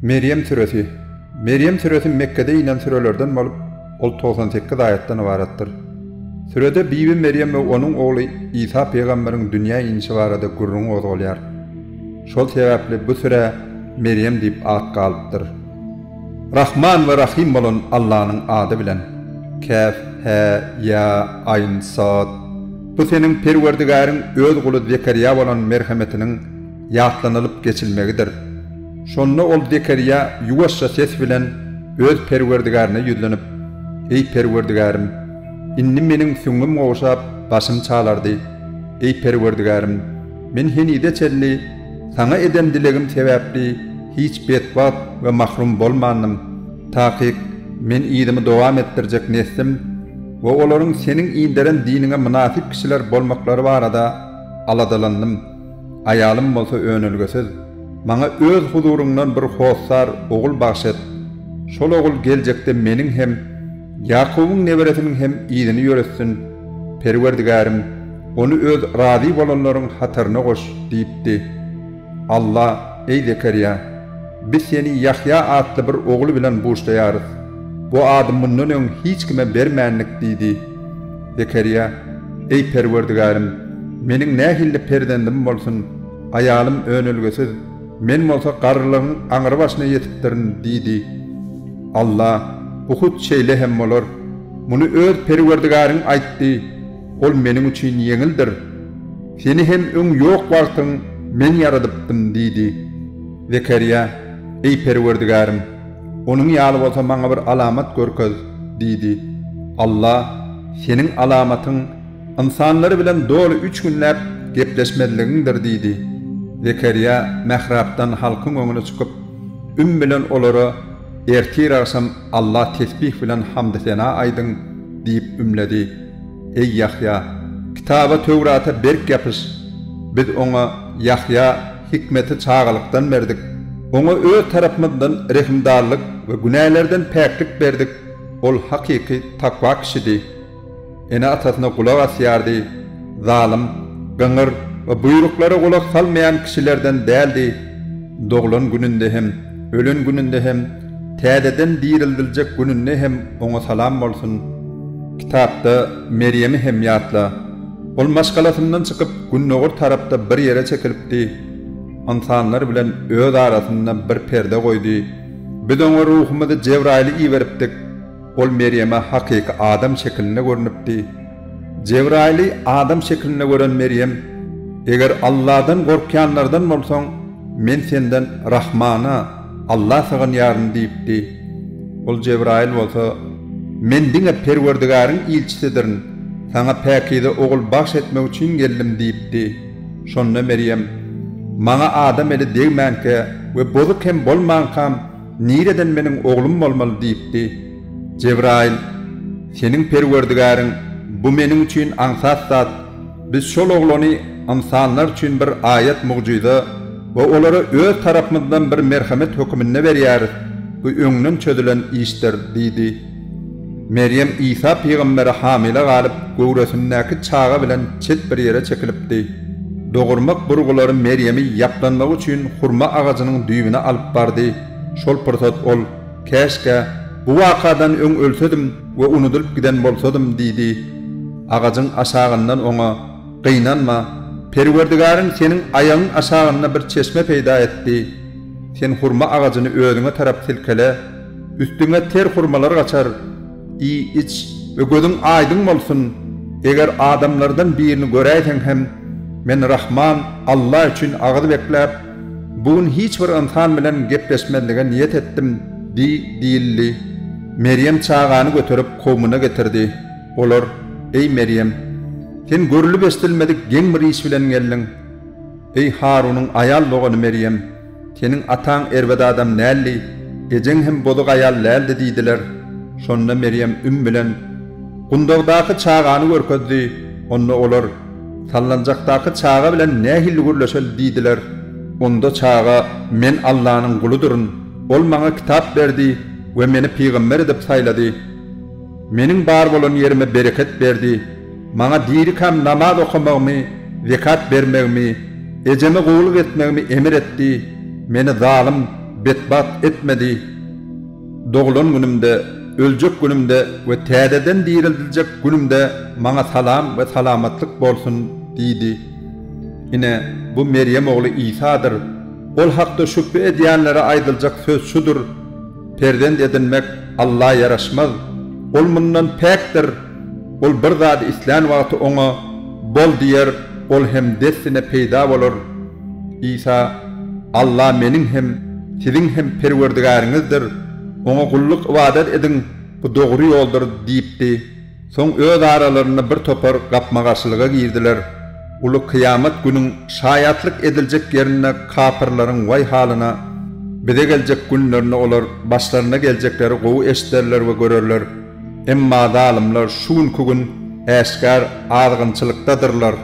Merýem süresi. Merýem süresi Mekgede inen sürelerden bolup, ol togsan sekiz aýatdan ybaratdyr. Sürede Bibi Merýem we onuň ogly Isa pygamberiň dünýä inişi barada gürrüň gozgalýar. Şol sebäpli bu sürä Merýem diýip at galypdyr. Rahman we Rahym bolan Allanyň ady bilen. Käf, hä, ýa, aýn, sod. Bu Seniň Perwerdigäriň Öz guly Zekerýa bolan merhemetiniň ýatlanylyp geçilmegidir. Şonda ol Zekerýa ýuwaşja ses bilen Öz Perwerdigärine ýüzlenip, Eý Perwerdigärim! Indi meniň süňňüm gowşap, başym çalardy. Eý Perwerdigärim! Men henize çenli Saňa eden dilegim sebäpli hiç betbagt we mahrum bolmandym. Takyk, men yzymy dowam etdirjek neslim, we olaryň Seniň inderen diniňe mynasyp kişiler bolmaklary barada aladalandym, aýalym bolsa önelgesiz, maňa Öz huzuryňdan bir hossar ogul bagyş et, şol ogul geljekde meniň hem, Ýakubyň neberesiniň hem yzyny ýöretsin, Perwerdigärim, ony Öz razy bolanlaryň hataryna goş diýipdi. Alla, Eý Zekerýa! Biz seni Ýahýa atly bir ogul bilen buşlaýarys. Bu ady mundan öň hiç kime bermändik diýdi. Zekerýa, Eý Perwerdigärim! Meniň nähilli perzendim bolsun? Aýalym önelgesiz, men bolsa garrylygyň aňrybaşyna ýetipdirin diýdi. Alla, Bu hut şeýle hem bolar. Muny öz Perwerdigäriň aýtdy. Ol meniň üçin ýeňildir. Seni hem öň ýok wagtyň Men ýaradypdym diýdi. Zekerýa, Eý Perwerdigärim! Onuň ýaly bolsa maňa bir alamat görkez! diýdi. Alla, Seniň alamatyň ynsanlar bilen doly üç günläp gepleşmezligiňdir diýdi. Zekerýa mährapdan halkyň öňüne çykyp, üm bilen olara, Ertir-agşam Alla tesbih bilen hamdy-sena aýdyň! diýip ümledi. Eý, Ýahýa! Kitaba, Töwrata berk ýapyş! Biz oňa, Ýahýa, hikmeti çagalykdan berdik. Oňa Öz tarapymyzdan rehimdarlyk we günälerden päklik berdik. Ol hakyky takwa kişidi. Ene-atasyna gulak asýardy, zalym, gyňyr we buýruklara gulak salmaýan kişilerden däldi. Doglan gününde hem, ölen gününde hem, täzeden dirildiljek gününde hem oňa salam bolsun. Kitapda Merýemi hem ýatla. Ol maşgalasyndan çykyp, gündogar tarapda bir ýere çekilipdi. Ynsanlar bilen öz arasynda bir perde goýdy. Biz oňa ruhumyzy Jebraýyly iberipdik. Ol Merýeme hakyky adam şekilinde görnüpdi. Jebraýyly adam şekilinde gören Merýem, Eger Alladan gorkýanlardan bolsaň, men senden Rahmana, Alla sygynýaryn diýipdi. Ol Jebraýyl bolsa, Men diňe Perwerdigäriň ilçisidirin, saňa päkize ogul bagş etmek üçin geldim diýipdi. Şonda Merýem, Maňa adam eli degmänkä we bozuk hem bolmankam, Nireden meniň oglum bolmaly diýipdi? Jebraýyl, Seniň Perwerdigäriň, Bu meniň üçin aňsat zat. Biz şol oglany ynsanlar üçin bir aýat-mugjyza we olara Öz tarapymyzdan bir merhemet höküminde berýäris. Bu öňden çözülen işdir diýdi. Merýem Isa pygambere hamile galyp, göwresindäki çaga bilen çet bir ýere çekilipdi. Dogurmak burgulary Merýemi ýaplanmak üçin hurma agajynyň düýbüne alyp bardy. Şol pursat ol, Käşgä, bu wakadan öň ölsedim we unudylyp giden bolsadym diýdi. Agajyň aşagyndan oňa, Gynanma, Perwerdigaryň seniň aýagyň aşagynda bir çeşme peýda etdi. Sen hurma agajyny özüňe tarap silkele. Üstüňe ter hurmalar gaçar. Iý, iç we gözüň aýdyň bolsun. Eger adamlardan birini göräýseň hem, Men Rahman Alla üçin agyz bekläp, bu gün hiç bir ynsan bilen gepleşmezlige niýet etdim diý diýildi. Merýem çagany göterip kowmuna getirdi. Olar, Eý Merýem! Sen görlüp-eşdilmedik geň bir iş bilen geldiň. Eý Harunyň aýal dogany Merýem! Seniň ataň erbet adam däldi, ejeň hem bozuk aýal däldi diýdiler. Şonda Merýem üm bilen Gundagdaky çagany görkezdi. Onda olar, Sallanjakdaky çaga bilen nähilli gürleşeli diýdiler. Onda çaga, Men Allanyň guludyryn. Ol maňa kitap berdi we meni pygamber edip saýlady. Meniň bar bolan ýerime bereket berdi, maňa dirikäm namaz okamagymy, zekat bermegimi, ejeme gulluk etmegimi emir etdi, meni zalym, betbagt etmedi. Doglan günümde, öljek günümde we täzeden direldiljek günümde maňa salam we salamatlyk bolsun! diýdi. Ine, bu Merýem ogly Isadyr. Ol hakda şübhe edýänlere aýdyljak söz şudur. Perzent edinmek Alla ýaraşmaz. Ol mundan päkdir. Ol bir zady islän wagty oňa Bol diýer, ol hem dessine peýda bolar. Isa, Alla meniň hem, siziň hem Perwerdigäriňizdir. Oňa gulluk-ybadat ediň, bu dogry ýoldur diýipdi. Soň öz aralarynda bir topar gapma-garşylyga girdiler, uly kyýamat günüň şaýatlyk ediljek ýerinde kapyrlaryň waý halyna, bize geljek günlerinde olar başlaryna geljekleri gowy eşiderler we görerler, emma zalymlar şu günki gün äşgär azgynçylykdadyrlar,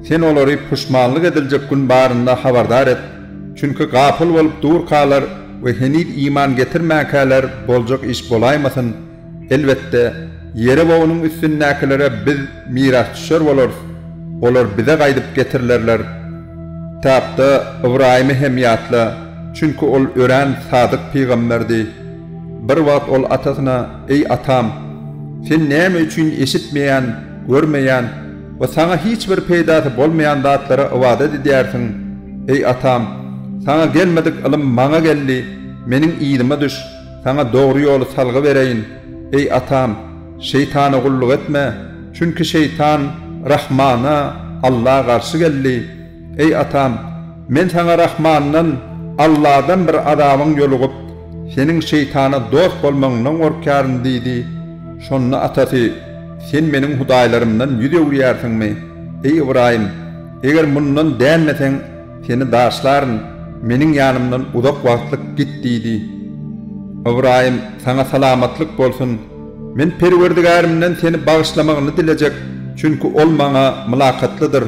Sen olary puşmanlyk ediljek gün barynda habardar et, çünki gapyl bolup durkalar we heniz iman getirmänkäler boljak iş bolaýmasyn, Elbetde, Ýerewogynyň üstündäkilere biz mirasdüşer bolarys, olar bize gaýdyp getirilerler. Kitapda Ybraýymy hem ýatla, çünki ol örän sadyk pygamberdi. Bir wagt ol atasyna, Eý, atam! Sen näme üçin eşitmeýän, görmeýän we saňa hiç bir peýdasy bolmaýan zatlara ybadat edýärsiň? Eý, atam! Saňa gelmedik ylym maňa geldi, meniň yzyma düş! Saňa dogry ýoly salgy bereýin, eý, atam, şeýtana gulluk etme, çünki şeýtan Rahmana, Alla, garşy geldi. Eý, atam, men saňa Rahmandan, Alladan bir azabyň ýolugyp, seniň şeýtana dost bolmagyňdan gorkýaryn diýdi. Şonda atasy, Sen meniň hudaýlarymdan ýüz öwürýärsiňmi, eý, Ybraýym? Eger mundan dänmeseň, Seni daşlaryn, meniň ýanymdan uzak wagtlyk git diýdi. Ybraýym, Saňa salamatlyk bolsun! Men Perwerdigärimden seni bagyşlamagyny dilejek, çünki Ol maňa mylakatlydyr.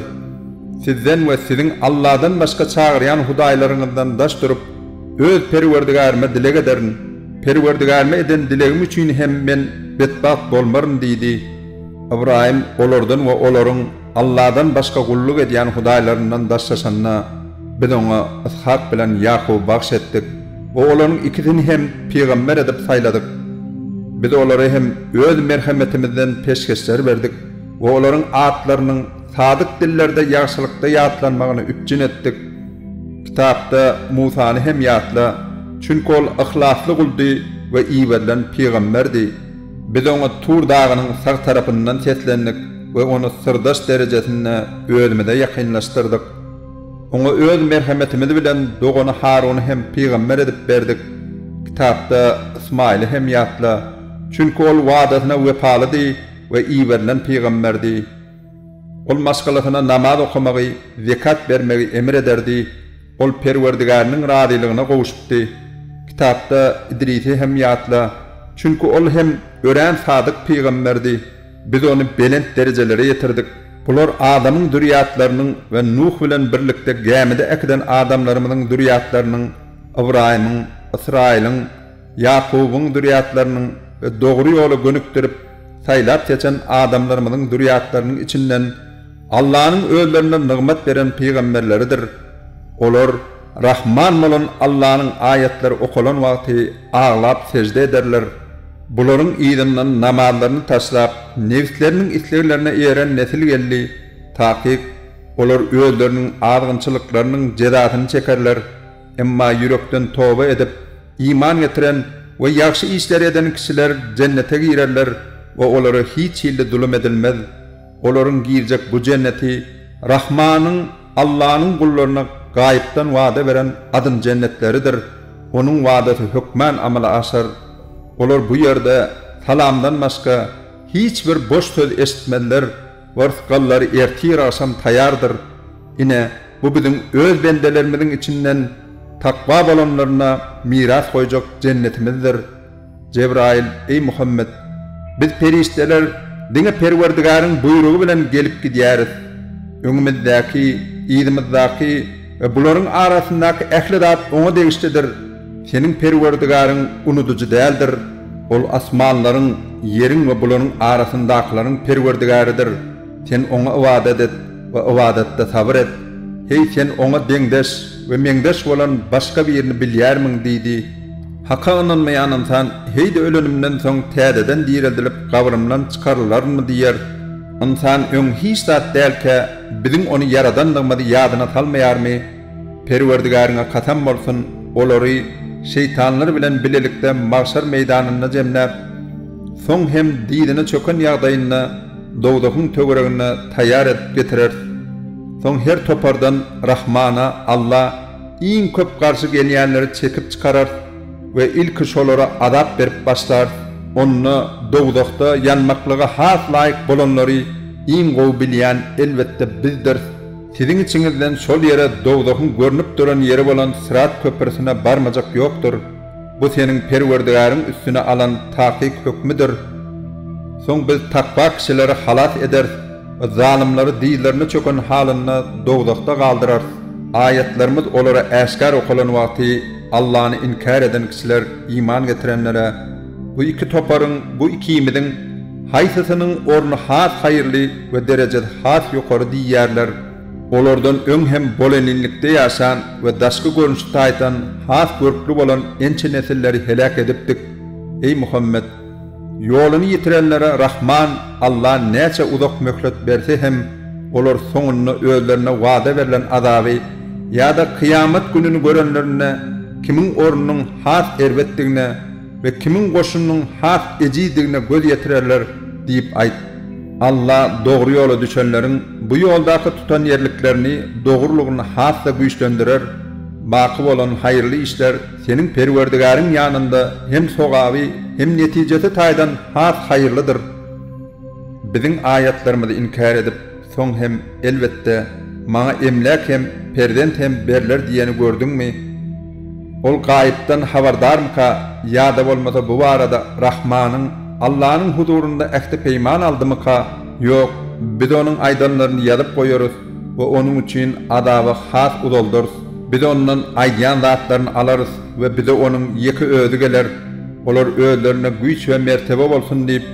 Sizden we siziň Alladan başga çagyrýan hudaýlaryňyzdan daş durup, Öz Perwerdigärime dileg ederin. Perwerdigärime eden dilegim üçin hem men betbagt bolmaryn diýdi. Ybraýym olardan we olaryň. Alladan başga gulluk edýän hudaýlaryndan daşlaşanda, Biz oňa Ys'hak bilen Ýakuby bagş etdik we olaryň ikisini hem pygamber edip saýladyk. Biz olara hem Öz merhemetimizden peşgeşler berdik we olaryň atlarynyň sadyk dillerde ýagşylykda ýatlanmagyny üpjün etdik. Kitapda Musany hem ýatla, çünki ol yhlasly guldy we iberilen pygamberdi. Biz oňa Tur dagynyň sag tarapyndan seslendik we ony syrdaş derejesinde özümize ýakynlaşdyrdyk. Oňa öz merhemetimiz bilen dogany Haruny hem pygamber edip berdik. Kitapda Ysmaýyly hem ýatla, çünki ol wadasyna wepalydy we iberilen pygamberdi. Ol maşgalasyna namaz okamagy, zekat bermegi emr ederdi. Ol Perwerdigäriniň razylygyna gowuşypdy. Kitapda Idrisi hem ýatla, çünki ol hem örän sadyk pygamberdi. Biz ony belent derejelere ýetirdik. Bular Adamyň zürýatlarynyň we Nuh bilen birlikde gämide äkiden adamlarymyzyň zürýatlarynyň, Ybraýymyň, Ysraýylyň, Ýakubyň zürýatlarynyň we dogry ýola gönükdirip, saýlap-seçen adamlarymyzyň zürýatlarynyň içinden Allanyň özlerine nygmat beren pygamberleridir, olar Rahman bolan Allanyň aýatlary okalan wagty aglap sežde ederler, bularyň yzyndan namazlaryny taşlap, nebsleriniň isleglerine eýeren nesil geldi, takyk, olar özleriniň azgynçylyklarynyň jezasyny çekerler, emma ýürekden toba edip, iman getiren we ýagşy işleri eden kişiler jennete girerler we olara hiç hilli zulum edilmez. Olaryň girjek bu jenneti Rahmanyň, Allanyň gullaryna gaýypdan wada beren adyn jennetleridir, Onuň wadasy hökmän amala aşar. Olar bu ýerde salamdan başga hiç bir boş söz eşitmezler we rysgallary ertir-agşam taýardyr. Ine, bu biziň Öz bendelerimiziň içinden takwa bolanlaryna miras goýjak jennetimizdir. Jebraýyl, Eý Muhammet! Biz perişdeler diňe Perwerdigäriň buýrugy bilen gelip gidýäris. Öňümizdäki, yzymyzdaky we bularyň arasyndaky ähli zat Oňa degişlidir. Seniň Perwerdigaryň unudyjy däldir. Ol asmanlaryň, ýeriň we bularyň arasyndakylaryň Perwerdigäridir. Sen Oňa ybadat et we ybadatda sabyr et. Heý, sen Oňa deňdeş we meňzeş bolan başga birini bilýärmiň? diýdi. Haka ynanmaýan ynsan, Heý-de ölenimden soň täzeden direldilip, gabrymdan çykarylarynmy diýer. Ynsan öň hiç zat dälkä, biziň ony ýaradandygymyzy ýadyna salmaýarmy? Perwerdigäriňe kasam bolsun, olary, şeýtanlar bilen bilelikde magşar meýdanynda jemläp, soň hem dyzyna çöken ýagdaýynda dowzahyň töweregine taýýar edip getireris. Soň her topardan Rahmana, Alla, Iň köp garşy gelýänleri çekip çykararys we ilki şolara azap berip başlarys, onda dowzahda ýanmaklyga has laýyk bolanlary iň gowy bilýän elbetde Bizdiris, siziň içiňizden şol ýere dowzahyň görnüp duran ýeri bolan Syrat köprüsine barmajak ýokdur. Bu seniň Perwerdigäriň üstüne alan takyk hökmüdir. Soň biz takwa kişileri halas ederis, zalymlary dyzlaryna çöken halynda dowzahda galdyrarys. Aýatlarymyz olara äşgär okalan wagty Allany inkär eden kişiler iman getirenlere, Bu iki toparyň, bu ikimiziň, haýsysynyň orny has haýyrly we derejesi has ýokary diýýärler. Olardan öň hem boleninlikde ýaşan we daşky görnüşi taýdan has görkli bolan ençe nesilleri heläk edipdik, eý Muhammet! Ýoluny ýitirenlere Rahman Alla näçe uzak möhlet berse hem, olar soňunda özlerine wada berlen azaby ýa-da kyýamat gününi görenlerinde kimiň ornunyň has erbetdigine, we kimiň goşunynyň has ejidigine göz ýetirerler diýip aýt. Alla dogry ýola düşenleriň bu ýoldaky tutanýerliklerini dogrulygyny has-da güýçlendirer, baky bolan haýyrly işler seniň Perwerdigäriň ýanynda hem sogaby hem netijesi taýdan has haýyrlydyr. Biziň aýatlarymyzy inkär edip, Soň hem, elbetde, maňa emläk hem, perzent hem berler diýeni gördüňmi? Ol gaýypdan habardarmyka ýa-da bolmasa bu barada Rahmanyň, Allanyň huzurynda ähti-peýman aldymyka? Ýok, biz onuň aýdanlaryny ýazyp goýarys we onuň üçin azaby has uzaldarys. Biz ondan aýdýan zatlaryny alarys we bize onuň ýeke özi geler. Olar özlerine güýç we mertebe bolsun diýip,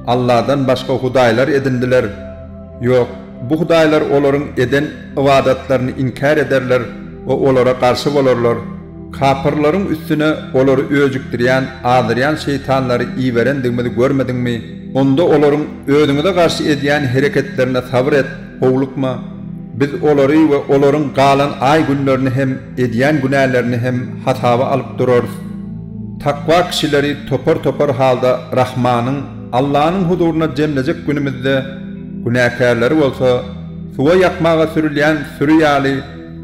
Allahdan başga hudaýlar edindiler. Ýok, bu hudaýlar olaryň eden ybadatlaryny inkär ederler we olara garşy bolarlar. Kapyrlaryň üstüne olary öjükdirýän, azdyrýan şeýtanlary iberendigimizi görmediňmi? Onda olaryň özüňize garşy edýän hereketlerine sabyr et, howlukma. Biz olary we olaryň galan aý-günlerini hem Edýän günälerini hem hasaba alyp durarys. Takwa kişileri topar-topar halda Rahmanyň, Allanyň, huzuryna jemlejek günümizde, günäkärleri bolsa, suwa ýakmaga sürülýän süri ýaly,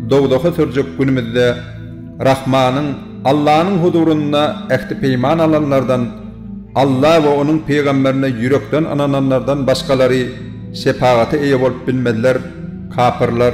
dowzaha sürjek günümizde, Rahmanyň, Allanyň, huzurynda ähti-peýman alanlardan, Alla we onuň pygamberine ýürekden ynananlardan başgalary şepagata eýe bolup bilmezler, kapyrlar.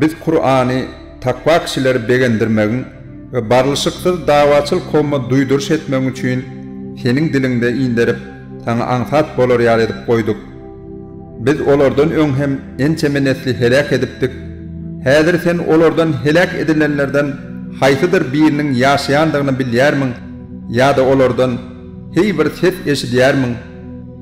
Biz Kurany takwa kişileri begendirmegiň we barlyşyksyz dawaçyl kowma duýduryş etmegiň üçin seniň diliňde inderip, saňa aňsat bolar ýaly edip goýduk. Biz olardan öň hem ençeme nesli heläk edipdik. Häzir sen olardan heläk edilenlerden haýsydyr biriniň ýaşaýandygyny bilýärmiň ýa-da olardan heý bir ses eşidýärmiň?